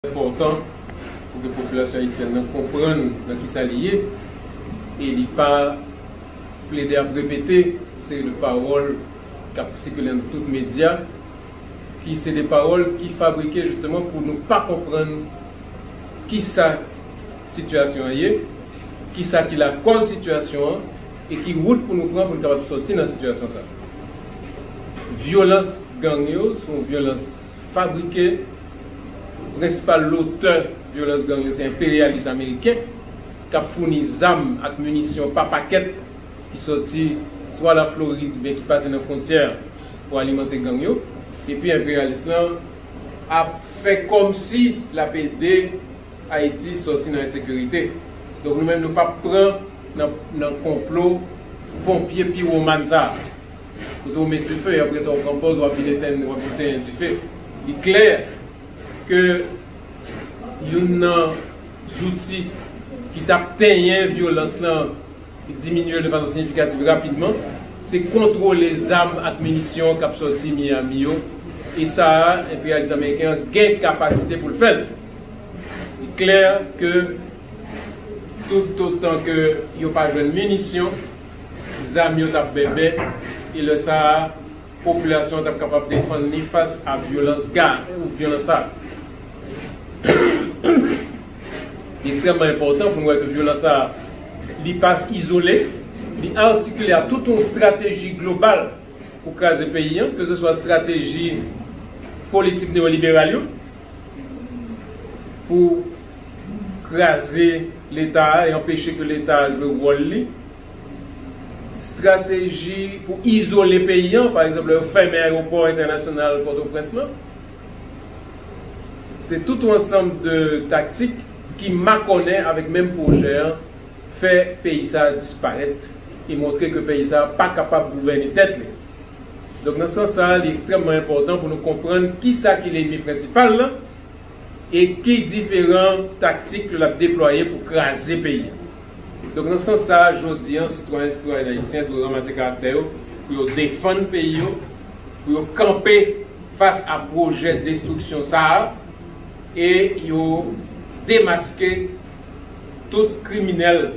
enpòtan pou ke popilasyon ayisyèn nan konprann nan ki sa li ye e li pa plede ap repete yon seri de pawòl k ap sikile nan tout medya ki se de pawòl ki fabrike jisteman pou nou pa konprann ki sa sitiyasyon an ye, ki sa ki lakòz sitiyasyon an e ki wout pou nou pran pou nou kapab sòti nan sitiyasyon sa a. Vyolans gang yo se yon vyolans. Fabrike, prensipal lotè vyolans gang yo se enperyalis ameriken k ap founi zam ak minisyon pa pakèt ki sòti swa Laflorid oubyen ki pase nan fwontyè pou alimante gang yo. Epi enperyalis lan ap fè kòmsi l ap ede Ayiti sòti nan ensekirite. Donk nou menm nou p ap pran nan konplo ponpye piwoman sa a. kote ou met dife apre sa ou pran pòz wap vin etenn wap vin tenyen dife li klè ke youn nan zouti ki tap tenyen vyolans lan ki diminye l de fason siyifikativ rapidman se kontwole zam ak minisyon kap sòti Miyami yo e sa a enperyalis ameriken an gen kapasite pou l fè l li klè ke toutotan ke yo pa jwenn minisyon. Zam yo t ap bèbè, e lè sa a, popilasyon an t ap kapab defann li fas a vyolans gang ou vyolans sa a. Li ekstrèmman enpòtan pou nou wè ke vyolans sa a, li pa izole, li atikile a tout yon estrateji global pou kraze peyi an, keseswa estrateji politik neyoliberal yo, pou. kraze leta a e anpeche ke leta a jwe wòl li, strateji pou izole peyi an, pa egzanp lè yo fèmen ayewopò entènasyonal Pòtoprens lan, se tout yon ansanm de taktik ki makònen avèk menm pwojè an, fè peyi sa a disparèt e montre ke peyi sa a pa kapab gouvène tèt li. Donk nan sans sa a, li ekstrèmman enpòtan pou nou konprann kisa ki lenmi prensipal lan, e ki diferan taktik yo l ap deplwaye pou kraze peyi a. Donk nan sans sa a, jodi an, sitwayen, sitwayèn ayisyen dwe ranmase karaktè yo pou yo defann peyi yo, pou yo kanpe fas a pwojè destriksyon sa a e yo demaske tout kriminèl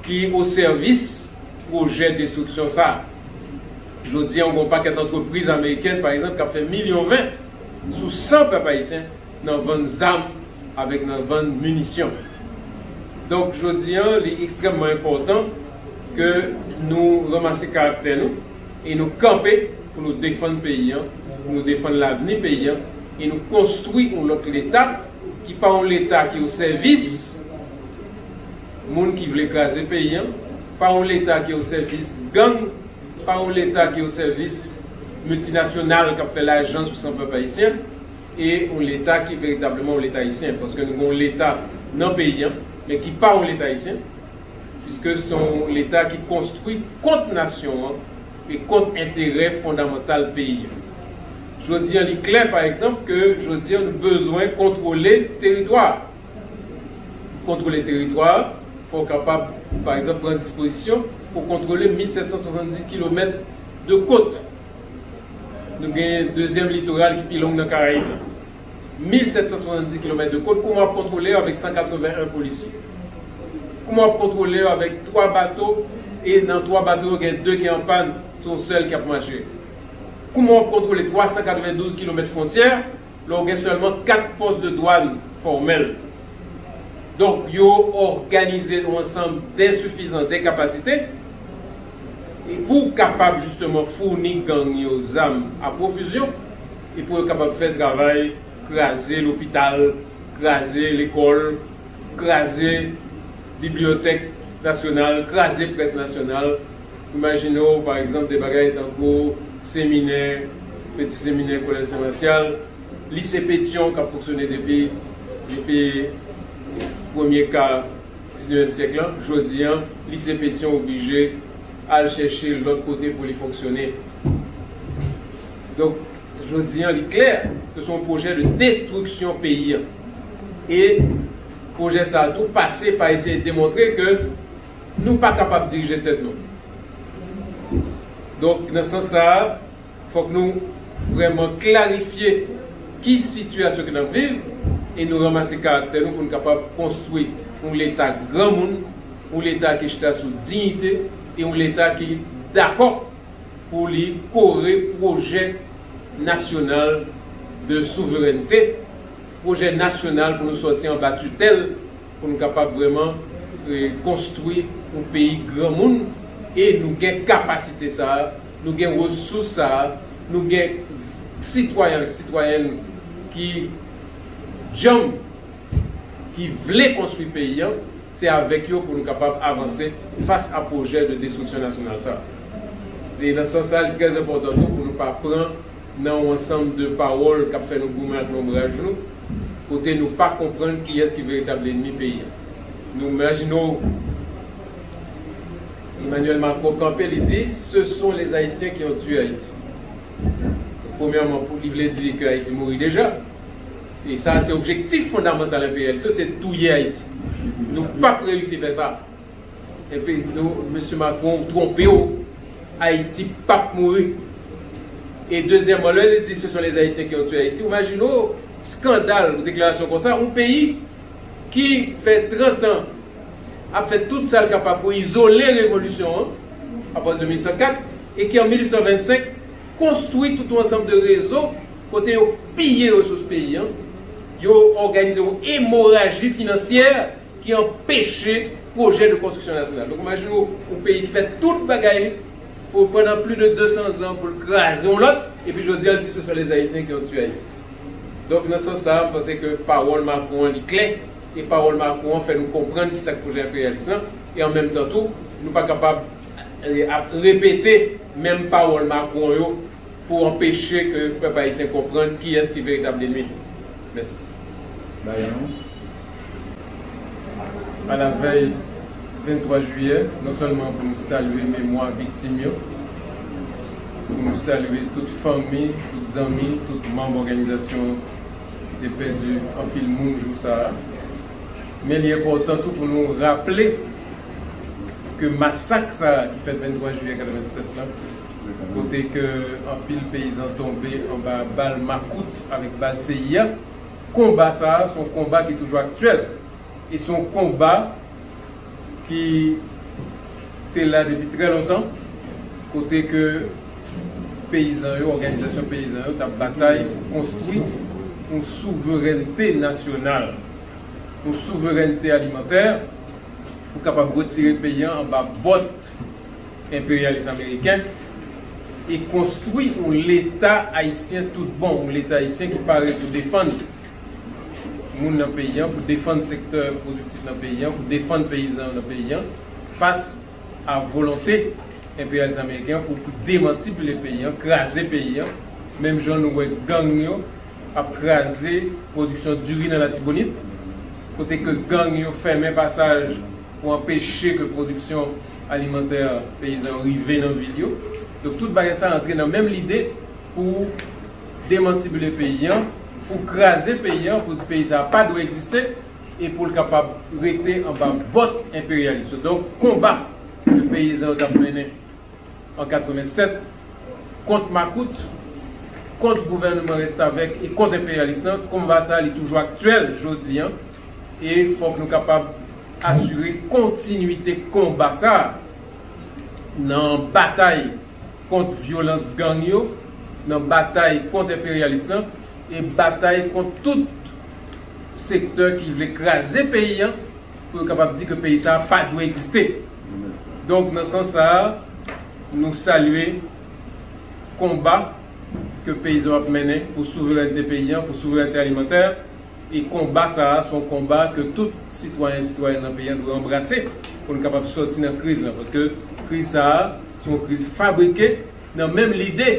ki o sèvis pwojè destriksyon sa a. Jodi an, gen yon pakèt antrepriz amerikèn, pa egzanp, k ap fè milyon ven. sou san pèp ayisyen nan vann zam avèk nan vann minisyon. Donk jodi an li ekstrèmman enpòtan ke nou ranmase karaktè nou e nou kanpe pou nou defann peyi an, pou nou defann lavni peyi an e nou konstwi yon lòt leta ki pa yon leta ki osèvis moun ki vle kraze peyi an, pa yon leta ki osèvis gang. Pa yon leta ki osèvis miltinasyonal k ap fè lajan sou san pèp ayisyen e yon leta ki veritableman yon leta ayisyen. Paske nou gen yon leta nan peyi an men ki pa yon leta ayisyen piske se yon leta ki konstwi kont nasyon an e kont enterè fondamantal peyi an. Jodi an li klè pa egzanp ke jodi an nou bezwen kontwole teritwa. pou kontwole teritwa a, fò w kapab, pa egzanp, pran dispozisyon pou w kontwole 1,770 kilomèt de kot. Nou gen dezyèm litoral ki pi long nan Karayib la. 1,770 kilomèt de kot, kouman w ap kontwole yo avèk 181 polisye? Kouman w ap kontwole yo avèk 3 bato e nan 3 bato yo gen 2 ki an pàn, se yon sèl ki ap mache? Kouman w ap kontwole 392 kilomèt fwontyè? Lè w gen sèlman 4 pòs de dwàn fòmèl, donk yo òganize yon ansanm densifizan de kapasite pou kapab jisteman founi gang yo zam a pwofizyon e pou yo kapab fè travay kraze lopital, kraze lekòl, kraze bibliyotèk nasyonal, kraze près nasyonal. Imajine w, pa egzanp, de bagay tankou seminè, peti seminè Kolèj Sen Masyal, Lise Petyon k ap fonksyone depi depi premye ka diznevyèm syèk lan. Jodi an, Lise Petyon oblije al chèche lòt kote pou li fonksyone. Donk, jodi an, li klè ke se yon pwojè de destriksyon peyi an. E pwojè sa a tou pase pa eseye demontre ke Nou pa kapab dirije tèt nou. Donk, nan sans sa a, fòk nou vrèman klarifye ki sitiyasyon ke n ap viv e nou ranmase karaktè nou pou n kapab konstwi yon Leta granmoun, yon Leta ki chita sou diyite e yon Leta ki dakò pou li kore pwojè nasyonal de souverènte, pwojè nasyonal pou nou sòti anba titèl pou nou kapab vrèman konstwi yon peyi granmoun e nou gen kapasite sa a, nou gen resous sa a, nou gen sitwayen ak sitwayèn ki djanm, ki vle konstwi peyi an, se avèk yo pou nou kapab avanse fas a pwojè de destriksyon nasyonal sa a. E nan sans sa a li trè enpòtan tou pou nou pa pran. nan yon ansanm de pawòl k ap fè nou goumen ak lonbraj nou, kote nou pa konprann kiyès ki veritab lennmi peyi a. Nou imajine w Emmanuel Macron kanpe, li di, Ce sont les Haïtiens qui ont tué Haïti. Premyèman, pou li vle di ke Ayiti mouri deja. E sa se objektif fondamantal enperyalis yo, se touye Ayiti. Nou p ap reyisi fè sa. Epi tou mesye Macron ou tronpe w Ayiti pap mouri e dezyèman lè li di se son les ayisyen ki ont tue Ayiti ou majine w skandal yon deklarasyon konsa yon peyi ki fè 30 an ap fè tout sa l kapab pou izole revolisyon an apati de 1804 e ki an 1825 konstwi tout yon ansanm de rezo kote yo piye resous peyi an yo òganize yon emoraji finansyè. ki anpeche pwojè de konstriksyon nasyonal. Donk imajine w yon peyi ki fè tout bagay li pou pandan pli de 200 zan pou l kraze yon lòt, epi jodi a l di se sèl lè Ayisyen ki antuye Ayiti. Donk nan sans sa a, m panse ke pawòl Macron an li klè, e pawòl Macron an fè nou konprann kisa k pwojè enperyalis lan, e an menm tan tou, nou pa kapab ap repete menm pawòl Macron yo pou anpeche ke pèp Ayisyen konprann kiyès ki veritab lenmi li. Mèsi Bayan nou Alavèy 23 jiyè non sèlman pou nou salye memwa viktim yo pou nou salye tout fanmi tout zanmi tout manm òganizasyon ki te pèdi anpil moun jou sa a men li enpòtan tou pou nou raple ke masak sa a ki fèt 23 jiyè 87 lan kote ke anpil peyizan tonbe anba bal makout avèk bal seyi a. Konba sa a se yon konba ki toujou aktyèl e se yon konba ki te la depi trè lontan kote ke peyizan yo, òganizasyon peyizan yo t ap batay pou konstwi yon souverènte nasyonal, yon souverènte alimantè pou kapab retire peyi an anba bòt. enperyalis ameriken e konstwi yon leta ayisyen tout bon, yon leta ayisyen ki pare pou defann moun nan peyi an, pou defann sektè pwodiktif nan peyi an, pou defann peyizan yo nan peyi an fas a volonte enperyalis ameriken an pou demantibile peyi an, kraze peyi an, menm jan nou wè gang yo ap kraze pwodiksyon diri nan Latibonit, kote ke gang yo fèmen pasaj. pou anpeche ke pwodiksyon alimantè peyizan yo rive nan vil yo. Donk tout bagay sa antre nan menm lide pou demantibile peyi an, pou kraze peyi an, pou di peyi sa a pa dwe egziste e pou l kapab rete anba bòt enperyalis yo. Donk konba ke peyizan yo t ap mennen an 87 kont makout, kont gouvèneman restavèk e kont enperyalis lan, konba sa a li toujou aktyèl jodi an. E fòk nou kapab asire kontinwite konba sa a nan batay kont vyolans gang yo, nan batay kont enperyalis lan e batay kont tout sektè ki vle kraze peyi an pou yo kapab di ke peyi sa a pa dwe egziste. Donk nan sans sa a, nou salye konba ke peyizan yo ap mennen pou souverènte peyi an, pou souverènte alimantè. E konba sa a, se yon konba ke tout sitwayen, sitwayèn nan peyi an dwe anbrase pou nou kapab sòti nan kriz lan. Paske kriz sa a, se yon kriz fabrike nan menm lide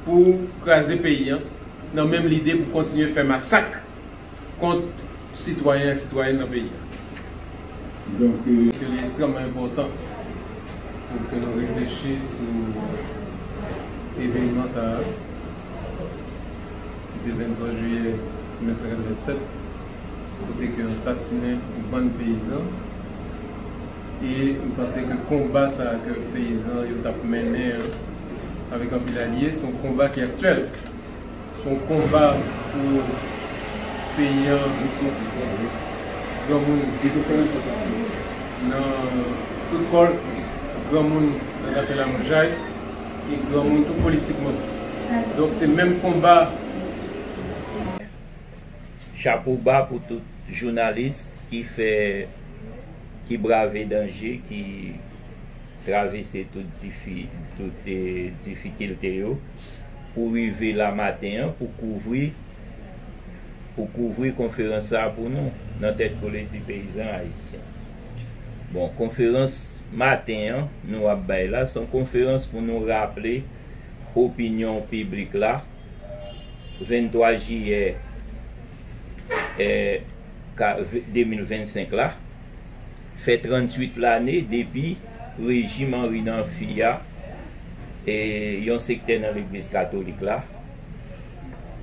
pou kraze peyi an, nan menm lide pou kontinye fè masak kont sitwayen ak sitwayèn nan peyi an. Donk. Ke li ekstrèmman enpòtan pou ke nou reflechi sou evenman sa a. ki se 23 jiyè 1987, kote ke yo sasinen yon bann peyizan, e m panse ke konba sa ke peyizan yo t ap mennen an, avèk anpil alye, se yon konba ki aktyèl, se yon konba pou peyi an, granmoun nan tout kò l, granmoun nan zafè lamoujay. E granmoun tou politikman. Donk se menm konba. Chapo ba pou tout jounalis ki fè ki brave danje ki travese tout difi tout difikilte yo pou rive la maten an pou kouvri pou kouvri konferans sa pou nou nan tèt kole di peyizan ayisyen. Bon konferans maten an nou ap bay la son konferans pou nou raple opinyon piblik la 23 jiyè 2025 la fè 38 lane depi rejim Henry nan fi a e yon sektè nan legliz katolik la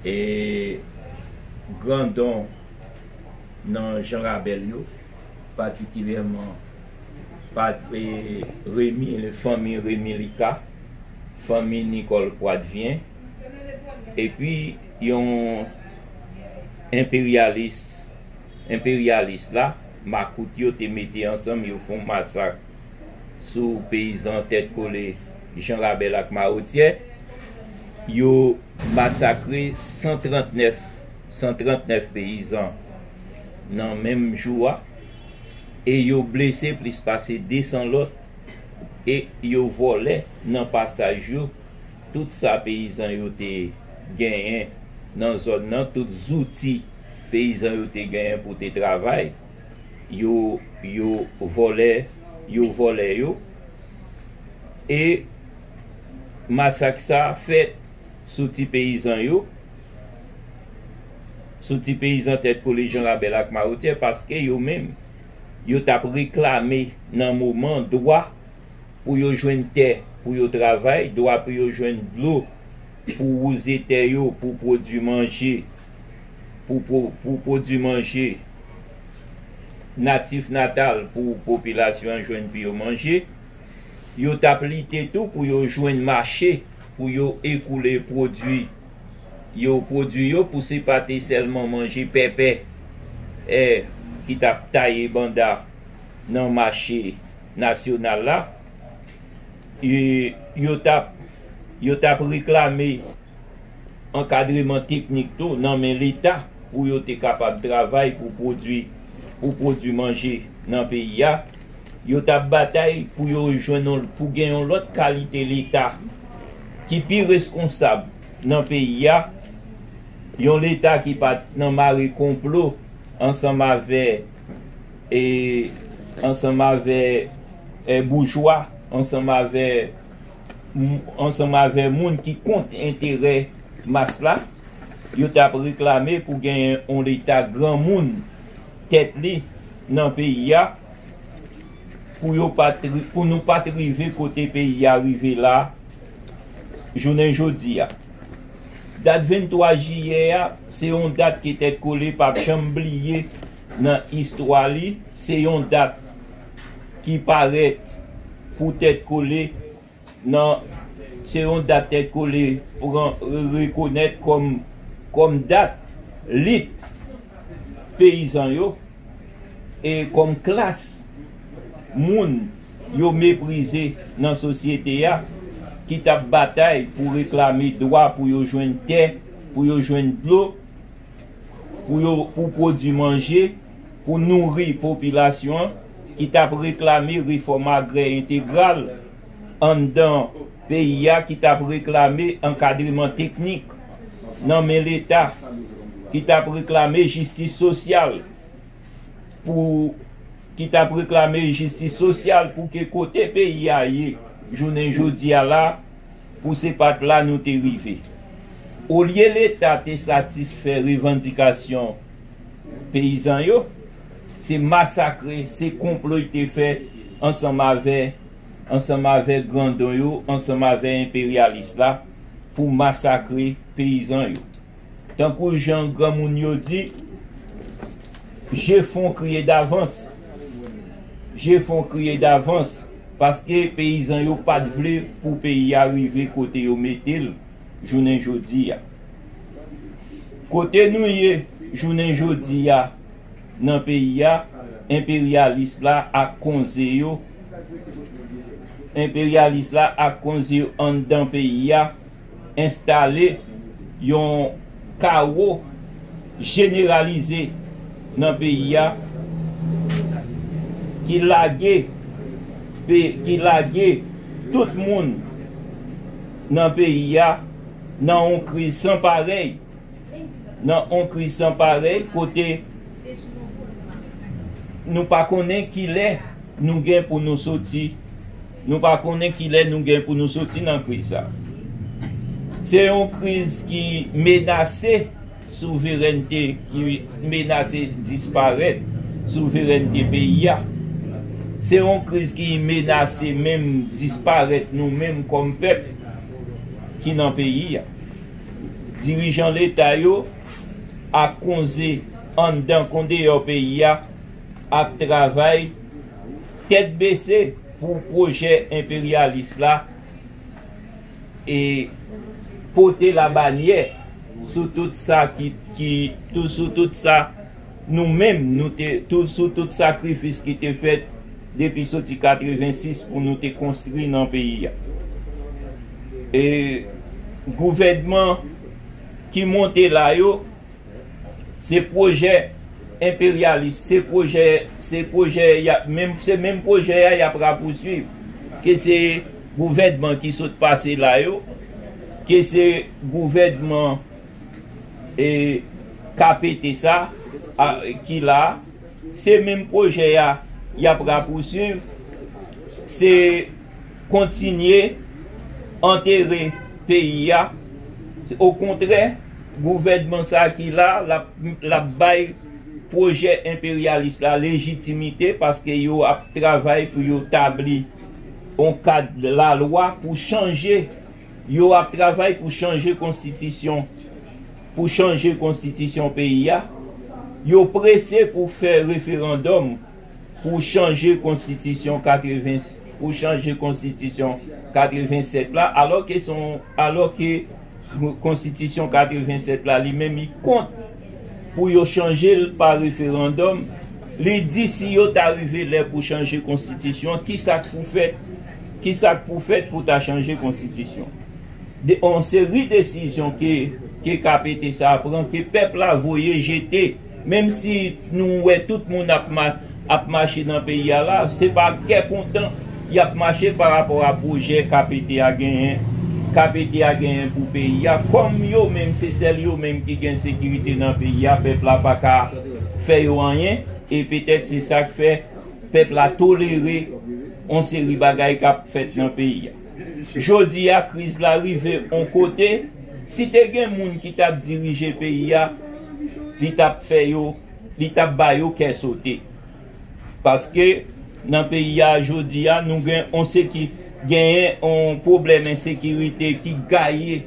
e grandon nan jan rabèl yo. patikilyèman pa Remi fanmi Remi Lika, fanmi Nicole Poitvien epi yon enperyalis enperyalis la makout yo te mete ansanm yo fon masak sou peyizan tèt kole Jan Rabèl ak Mawotyè yo masakre 139 139 peyizan nan menm jou a e yo blese plis pase 200 lòt e yo vòlè nan pasaj yo tout sa peyizan yo te genyen nan zòn nan, tout zouti peyizan yo te genyen pou te travay yo yo vòlè yo vòlè yo e masak sa fèt sou ti peyizan yo. sou ti peyizan tèt kole Janrabèl ak Mawotyè paske yo menm yo t ap reklame nan moman dwa pou yo jwenn tè pou yo travay, dwa pou yo jwenn dlo pou wouze tè yo pou pwodui manje pou pwodui manje natif natal pou popilasyon an jwenn pou yo manje. Yo t ap lite tou pou yo jwenn mache pou yo ekoule pwodui. yo pwodui yo pou se pa te sèlman manje pèpè è ki t ap taye banda nan mache nasyonal la, yo t ap yo t ap reklame ankadreman teknik tou nan men Leta pou yo te kapab travay pou pwodui pou pwodui manje nan peyi a. Yo t ap batay pou yo jwenn yon pou gen yon lòt kalite leta ki pi reskonsab nan peyi a, yon leta ki pa t nan mare konplo ansanm avè e ansanm avè e boujwa ansanm avè ansanm avè moun ki kont enterè mas la. Yo t ap reklame pou genyen yon leta granmoun. tèt li nan peyi a pou yo pat pou nou pat rive kote peyi a rive la jounen jodi a. Dat 23 jiyè a se yon dat ke Tèt Kole pap janm bliye nan istwa li, se yon dat ki parèt pou Tèt Kole Nan, se yon dat Tèt Kole pran rekonèt kòm kòm dat lit peyizan yo e kòm klas moun yo meprize nan sosyete a ki t ap batay pou reklame dwa pou yo jwenn tè, pou yo jwenn dlo, pou yo pou pwodui manje. pou nouri popilasyon ki t ap reklame refòm agrè entegral anndan peyi a, ki t ap reklame ankadreman teknik nan men Leta, ki t ap reklame jistis sosyal pou ki t ap reklame jistis sosyal pou ke kote peyi a ye jounen jodi a la pou se pa t la nou te rive. Olye Leta te satisfè revandikasyon. peyizan yo, se masakre, se konplo y te fè ansanm avè ansanm avè grandon yo, ansanm avè enperyalis la pou masakre peyizan yo. Tankou jan granmoun yo di, je fon kriye davans, je fon kriye davans paske peyizan yo pa t vle pou peyi a rive kote yo mete l. jounen jodi a. Kote nou ye jounen jodi a nan peyi a, enperyalis la ak konze yo, enperyalis la ak konze yo anndan peyi a enstale yon kawo jeneralize nan peyi a ki lage, ki lage tout moun. Nan peyi a, nan yon kriz san parèy, nan yon kriz san parèy kote nou pa konnen kilè nou gen pou nou soti, nou pa konnen kilè nou gen pou nou soti nan kriz sa. Se yon kriz ki menase. Souverènte ki menase disparèt souverènte peyi a. Se yon kriz ki menase menm disparèt nou menm kòm pèp ki nan peyi a. Dirijan leta yo ak konze anndan kon deyò peyi a ap travay tèt bese pou pwojè enperyalis la. e pote labanyè sou tout sa ki ki tou sou tout sa nou menm nou te tou sou tout sakrifis ki te fèt depi soti 86 pou nou te konstri nan peyi a e gouvènman ki monte la yo Se pwojè enperyalis, se pwojè, se pwojè yap menm, se menm pwojè a yap rapousuiv. Ke se gouvènman ki sot pase la yo, ke se gouvènman e KPT sa a ki la a, se menm pwojè a yap rapousuiv. Se. kontinye antere peyi a okontrè gouvènman sa ki la lap bay pwojè enperyalis la lejitimite paske yo ap travay pou yo tabli yon kad lalwa pou chanje yo ap travay pou chanje konstitisyon pou chanje konstitisyon peyi a yo prese pou fè referandòm. Pou chanje konstitisyon 80 pou chanje konstitisyon 87 la alò ke son alò ke konstitisyon 87 la li menm li kont pou yo chanje l pa referandòm li di si yo ta rive lè pou chanje konstitisyon ki sa k pou fèt ki sa k pou fèt pou ta chanje konstitisyon de yon seri desizyon ke ke KPT sa a pran ke pèp la voye jete. Menm si nou wè tout moun ap mache nan peyi a la, se pa ak kè kontan y ap mache pa rapò a pwojè KPT a genyen, KPT a genyen pou peyi a. Kòm yo menm se sèl yo menm ki gen sekirite nan peyi a, pèp la pa ka fè yo anyen e petèt se sa k fè pèp la tolere yon seri bagay k ap fèt nan peyi a. Jodi a kriz la rive on kote, si te gen moun ki tap dirije peyi a, li tap fè yo, li tap ba yo kè sote. Paske nan peyi a jodi a nou gen on seki, genyen on pwoblèm ensekirite ki gaye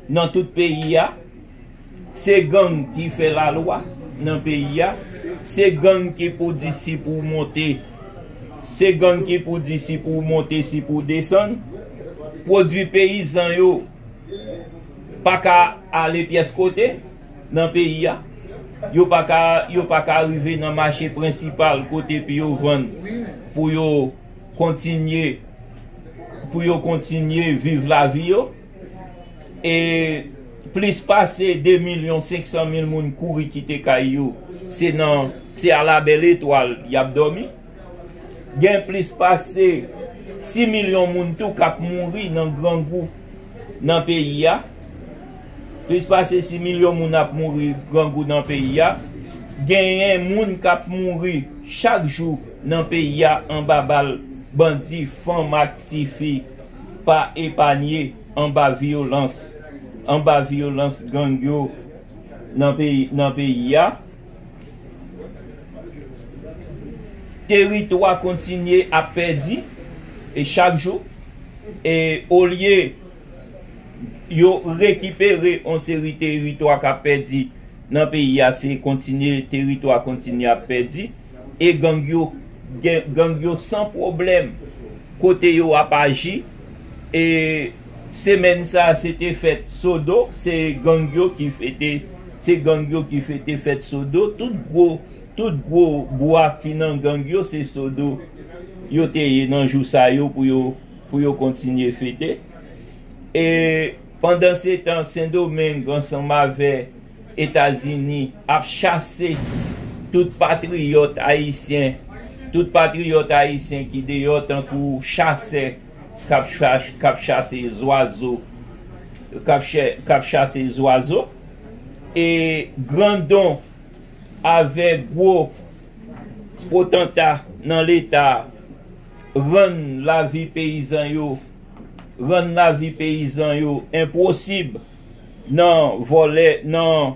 nan tout peyi a. Se gang ki fè la lwa nan peyi a se gang ki pou di si pou w monte se gang ki pou di si pou w monte si pou w desann pwodwi peyizan yo pa ka ale pyès kote nan peyi a yo pa ka yo pa ka rive nan mache prensipal kote pou yo vann pou yo kontinye pou yo kontinye viv lavi yo. e plis pase 2 milyon 500 mil moun kouri kite kay yo se nan se a la bèl etwal y ap dòmi gen plis pase 6 milyon moun tou k ap mouri nan grangou nan peyi a plis pase 6 milyon moun ap mouri grangou nan peyi a genyen moun k ap mouri chak jou nan peyi a anba bal bandi fanm ak tifi pa epanye anba vyolans anba vyolans gang yo nan peyi nan peyi a teritwa kontinye ap pèdi e chak jou e olye yo rekipere yon seri teritwa kap pèdi nan peyi a se kontinye teritwa kontinye ap pèdi e gang yo gen gang yo san pwoblèm kote yo ap aji e semèn sa se te fèt sodo se gang yo ki fete se gang yo ki fete fèt sodo tout gwo tout gwo bwa ki nan gang yo se sodo yo te ye nan jou sa yo pou yo pou yo kontinye fete e. Pandansetan, Sendomeng ansanm avè Etazini ap chase tout patriyòt ayisyen, tout patriyòt ayisyen ki deyò tankou chasè k ap chase zwazo, k ap chase zwazo e grandon avè gwo potanta nan leta rann lavi peyizan yo. rann lavi peyizan yo enpwosib nan vòlè, nan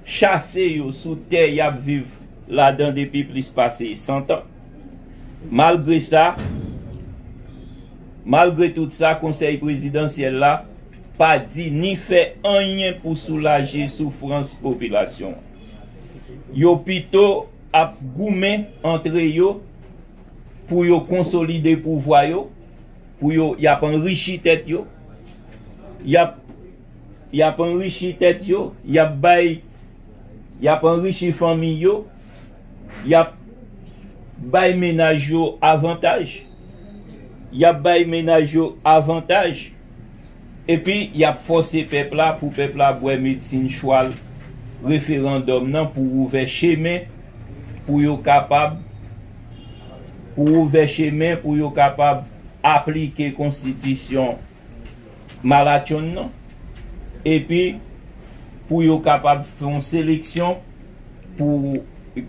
chase yo sou tè y ap viv ladan depi plis pase santan. Malgre sa, malgre tout sa, Konsèy Prezidansyèl la pa di ni fè anyen pou soulaje soufrans popilasyon an. Yo pito ap goumen antre yo pou yo konsolide pouvwa yo, pou yo y ap anrichi tèt yo, y ap y ap anrichi tèt yo, y ap bay y ap anrichi fanmi yo, y ap bay menaj yo avantaj, y ap bay menaj yo avantaj epi y ap fòse pèp la pou pèp la bwè medsin chwal referandòm nan pou ouvè chemen pou yo kapab pou ouvè chemen pou yo kapab aplike konstitisyon malatchonn nan epi pou yo kapab fè yon seleksyon pou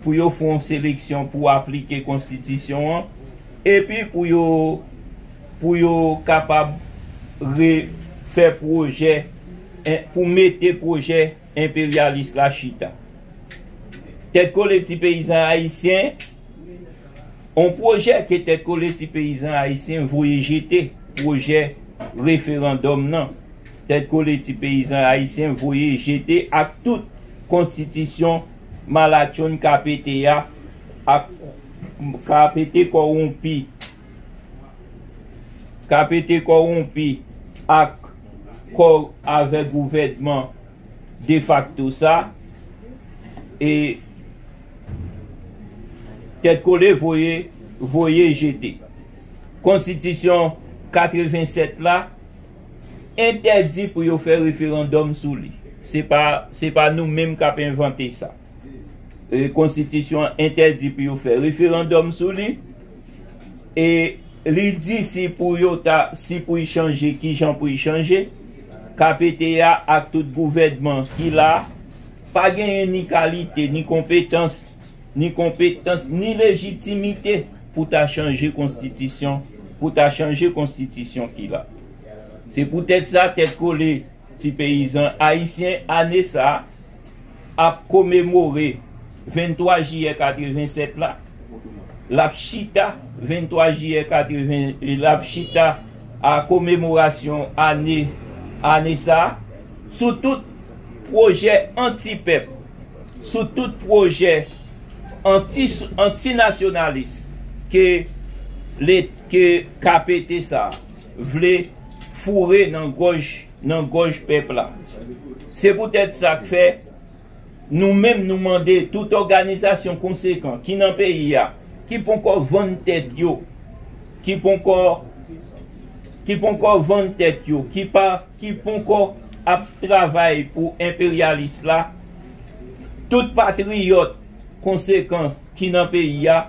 pou yo fè yon seleksyon pou aplike konstitisyon an epi pou yo pou yo kapab re fè pwojè pou mete pwojè Enperyalis la chita. Tèt kole ti peyizan ayisyen On pwojè ke Tèt kole ti peyizan ayisyen voye jete Pwojè referandòm nan Tèt kole ti peyizan ayisyen voye jete ak tout Konstitisyon malatchonn ka pete a ak ka pete kowonpi Kapete kowonpi ak kò avè gouvènman defakto sa e tèt kole voye voye jete. Konstitisyon 87 la entèdi pou yo fè referandòm sou li. Se pa se pa nou menm kap envante sa. konstitisyon an entèdi pou yo fè referandòm sou li, e li di si pou yo ta, si pou y chanje, ki jan pou y chanje, KPT a ak tout gouvènman ki la, pa genyen ni kalite, ni konpetans, ni konpetans, ni lejitimite pou ta chanje konstitisyon, pou ta chanje konstitisyon ki la. Se poutèt sa, tèt kole ti peyizan ayisyen ane sa, ap komemore 23 jiyè 87 la, l ap chita 23 jiyè 80 l ap chita a komemorasyon ane ane sa a sou tout pwojè anti pèp, sou tout pwojè anti anti nasyonalis ke let ke KPT sa a vle foure nan gòj. nan gòj pèp la. Se poutèt sa k fè, nou menm nou mande tout òganizasyon konsekan ki nan peyi a, ki ponkò vann tèt yo, ki ponkò, ki ponkò vann tèt yo, ki pa, ki ponkò ap travay pou enperyalis la, tout patriyòt konsekan ki nan peyi a,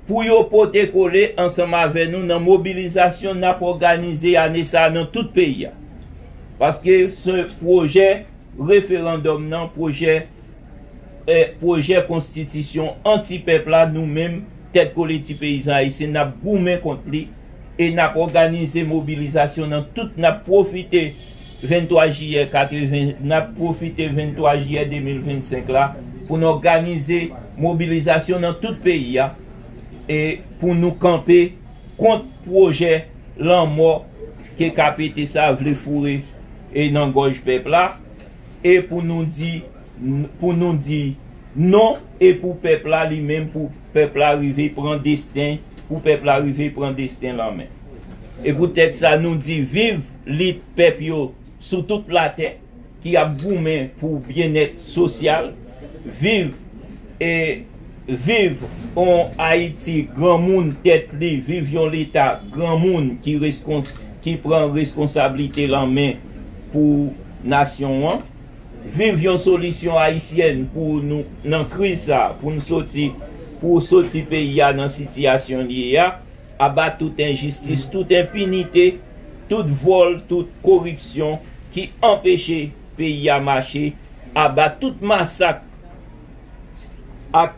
pou yo pote kole ansanm avè nou nan mobilizasyon n ap òganize ane sa a nan tout peyi a. Paske se pwojè referandòm nan, pwojè e pwojè konstitisyon antipèp la nou menm Tèt Kole Ti Peyizan Ayisyen n ap goumen kont li e n ap òganize mobilizasyon nan tout n ap pwofite 23 jiyè 80, n ap pwofite 23 jiyè 2025 la pou n òganize mobilizasyon nan tout peyi a e pou nou kanpe kont pwojè lanmò ke KPT sa a vle foure nan gòj pèp la e pou nou di pou nou di non e pou pèp la li menm pou pèp la rive pran desten pou pèp la rive pran desten l an men. E pou tèt sa nou di viv lit pèp yo sou tout latè ki ap goumen pou byennèt sosyal, viv e viv on Ayiti granmoun tèt li, viv yon leta granmoun ki reskon ki pran reskonsablite l an men pou nasyon an. Viv yon solisyon ayisyèn pou nou nan kriz sa pou n soti pou soti peyi a nan sitiyasyon l ye a aba tout enjistis tout enpinite tout vòl tout koripsyon ki anpeche peyi a mache aba tout masak ak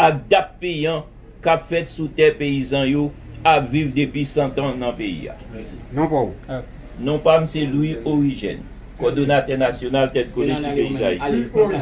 ak dap peyan k ap fèt sou tè peyizan yo ap viv depi santan nan peyi a. Non pa w? Non pa m se Louis Origène, kòdonatè nasyonal Tèt Kole Ti Peyi Dayiti.